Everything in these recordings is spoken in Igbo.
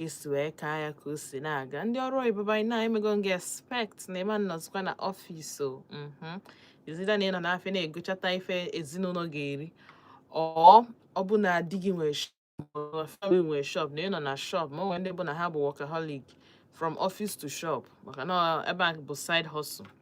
i si wee kaa ya ka o si na-aga ndị ọrụ oyibo anyị na emego m ga-expect na ị ma nọzikwa na ọfịs o mhm. it's either na ị nọ n'afịa na-egochata ife ezinụlọ ga-eri or ọ bụ na di gị nwere family nwere shop na ị nọ na shop ma o nwere ndị bụ na ha bụ workaholic from office to shop maka na ebe a bụ side hustle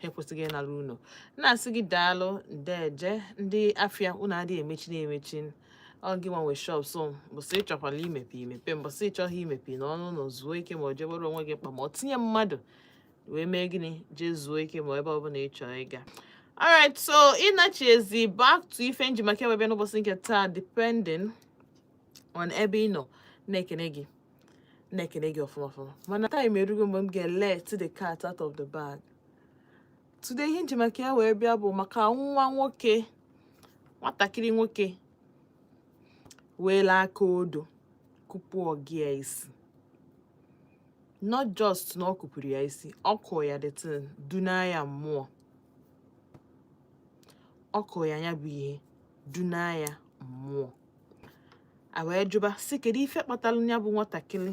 ha ekwesịghị ịnara unu na-asị gị daalụ ndeje ndị afịa unu adịghị emechi na-emechi ọ gị nwa nwe shop so mbọsị ị chọkwala imepe i mepe mbọsị ị chọghị imepe nọọ n'ụlọ zuo ike ma ọ jebere onwe gị mkpa ma ọ tinye mmadụ wee mee gịnị jee zuo ike ma ebe ọbụla ị chọrọ ịga alright so ịnachizi back to ife m ji maka ya wee bịa n'ụbọchị nke taa depending on ebe ị nọ na-ekene gị na-ekene gị ọfụma ọfụma mana time erugo mgbe m ga-elet the cat out of the bag today ihe m ji maka ya wee bịa bụ maka nwa nwoke nwatakịrị nwoke weela aka odo kụpu ọga ya isi not just na ọ kụpuru ya isi ọ kụọ ya the thing duna ya mmụọ ọ kụọ ya ya bụ ihe duna ya mmụọ a wee jụba sị kedu ife kpatara ya bụ nwatakịrị